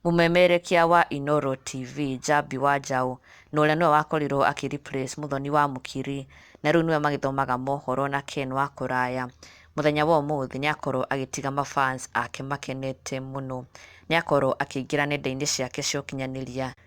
Mũmemerekia wa Inooro TV Njambi wa Njaũ na ũrĩa nĩwe wakorirwo akĩ replace Mũthoni wa Mũkiri na rĩu nĩwe magĩthomaga mohoro na Ken wa Kũraya. Mũthenya wa ũmũthĩ nĩakorwo agĩtiga ma fans ake makenete mũno. Nĩakorwo akĩingĩra nenda-inĩ ciake cia ũkinyanĩria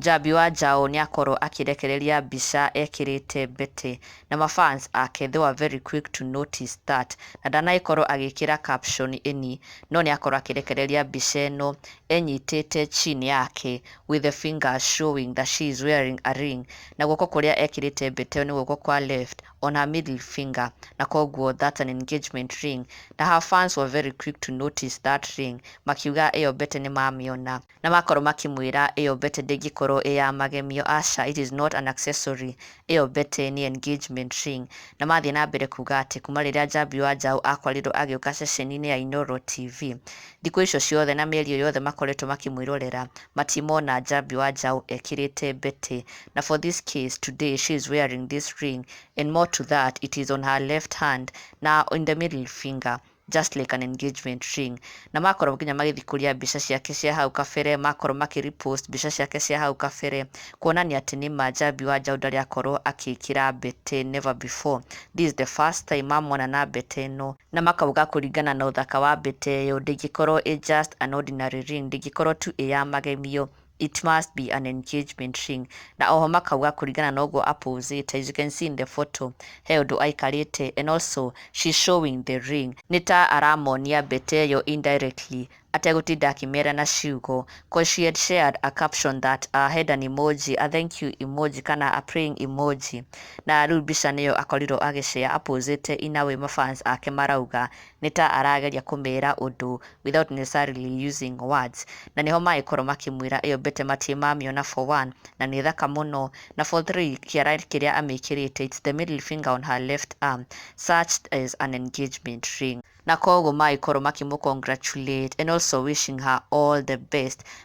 Njambi wa njaũ nĩakorwo akĩrekereria mbica ekĩrĩte mbete na ma fans ake they were very quick to notice that na ndanagĩkorwo agĩkĩra caption any no nĩakorwo akĩrekereria mbica ĩno enyitĩte chin yake with the fingers showing that she is wearing a ring na guoko kũrĩa ekĩrĩte mbete ĩyo nĩ guoko kwa left on her middle finger na koguo that's an engagement ring na her fans were very quick to notice that ring makiuga ĩyo mbete nĩmamĩona. Na makorwo makĩmwĩra, ĩyo mbete ndĩngĩkorwo ĩ ya magemio, aca, it is not an accessory, ĩyo mbete nĩ engagement ring. Na mathiĩ na mbere kuuga atĩ kuuma rĩrĩa Njambi wa Njaũ akwarirwo agĩũka ceceni-inĩ ya Inooro TV, thikũ icio ciothe na mĩeri ĩyo yothe makoretwo makĩmwĩrorera, matimona Njambi wa Njaũ ekĩrĩte mbete. Na for this case, today she is wearing this ring and more to that, it is on her left hand na in the middle finger. Just like an engagement ring. Na makorwo nginya magĩthikũria mbica ciake cia hau kabere, makorwo makĩ repost mbica ciake cia hau kabere, kuonania atĩ nĩ ma njambi wa njaũ ndarĩ akorwo akĩkĩra mbete never before. This is the first time mamwona na mbete ĩno. Na makauga kũringana na ũthaka wa mbete ĩyo, ndĩngĩkorwo ĩ just an ordinary ring, ndĩngĩkorwo tu ĩ ya magemio. It must be an engagement ring. Na oho makauga kũringana na ũguo a posete, as you can see in the photo, he ũndũ aikarĩte and also she's showing the ring. Nĩ ta aramonia mbete ĩyo indirectly ategũtinda akĩmera na ciugo coz she had shared a caption that a had an emoji, a thank you emoji kana a praying emoji. Na rĩu mbica nĩyo akorirwo agĩ share a posete in a way ma fans ake marauga nĩ ta arageria kũmera ũndũ without necessarily using words. Na nĩho magĩkorwo makĩmwĩra ĩyo mbete matirĩ mamĩona for one, na nĩ thaka mũno, na for three kĩara kĩrĩa amĩkĩrĩte it's the middle finger on her left arm, such as an engagement ring. Na koguo magĩkorwo makĩmũ congratulate and also wishing her all the best.